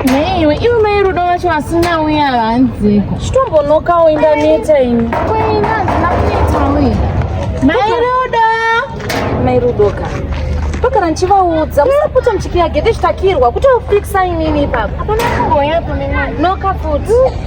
Naiwe iwe mai rudo vacho vasina uye havanziko. Chitombonokawo indaneta ini. Kwaina handina kuneta uye. Mai rudo. Mai rudo ka. Pakana ndichivaudza musapota muchipiya gede zvitakirwa kutofikisa inini ipapo. Hapana kumboyapo nemwana. Noka futi.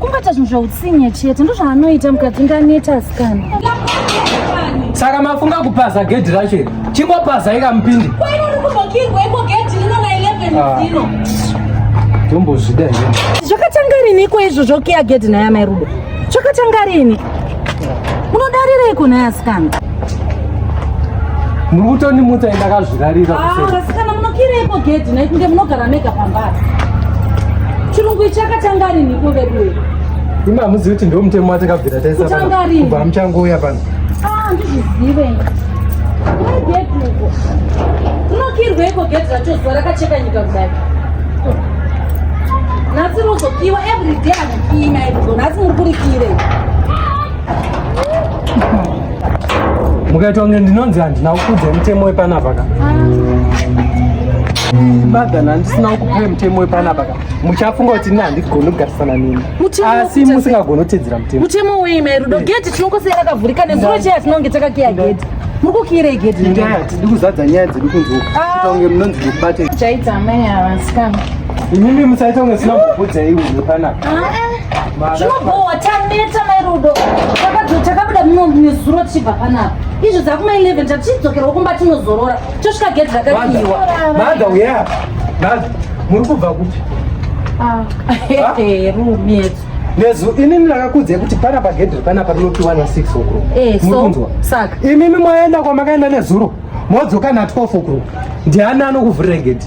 kungoita zvinhu zveutsinye chete ndozvaanoita mukadzi ndaneta asikana saka mafunga kupaza gedhi racho iri chingopaza ika mupindi tombozvida ah. zvakatanga riniko izvo zvokiya gedhi naye amai rudo zvakatanga rini unodarireiko naye asikana muri kutondimutsa indakazvirarira ah, asikana munokireiko gedhi nai kunge munogara mega pambari chirungu ichi akatanga riniko veduwe imi hamuzivi kuti ndo mutemo watakabvira taisakubva muchangouya pano ah, ndizvizive unokirweiko gedhi racho zuva rakacheka nyika kudai nhasi rozokiwa everyday mukaitwa kunge ndinonzi handina kukudza mutemo wepanapa ka madhana ndisina kukupai mutemo wepanapa ka muchafunga kuti ini handigoni kugarisana nini asi musingagoni kutedzera mutemo mutemo wei mai rudo geti tinongosera rakavhurika nezuro chei atinonge takakiya geti mukukiirei gedhi itai hatidi kuzadza nyaya dzedu kunze uku ah. ita kunge munonzi ndikubate chaita amai avasikana imimi musaita kunge sina kubvudza iwe panapa ah, eh. zvinobowa taneta mai rudo takabuda mimo nezuro tichibva panapa izvi dzakuma 11 tatichidzokerwa kumba tinozorora tosvika gedhi rakakiiwa madha uya madha muri kubva kupi ah. rumiet Nezu ini ndakakudzai kuti pana pagedhi panapa rinopiwa na 6 o'clock. Eh, so, Mukunzwa? Saka. Imimi mwaenda kwamakaenda nezuro modzoka na 12 o'clock. Ndiani anokuvhurira gedhi?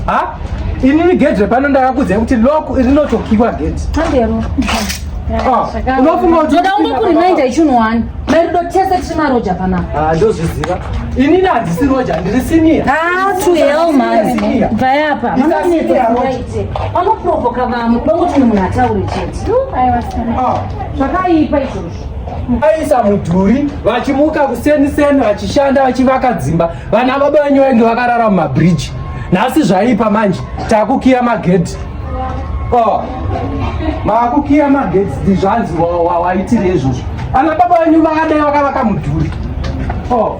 Ha? Inini gedhi repano ndakakudzai kuti lock rinotokiwa gedhi. Handero. Ah, unofunga kuti ndoda ungokurimainda ichinhu wani merudo tese tiri maroja panapa ah, ndozviziva inini handisi roja ndiri siniya ah, to hell man bvayapa vanoprovoka vamwe vangoti munhu ataure chete ah. zvakaipa izvozvo vaisa mudhuri vachimuka kuseni seni vachishanda vachivaka dzimba vana baba venyu vainge vakarara mumabridge nhasi zvaipa manje takukiya magedhi oh. makukiya magedhi ndizvanzi waitiri izvozvo vana baba venyu vakadai vakavaka mudhuri oh.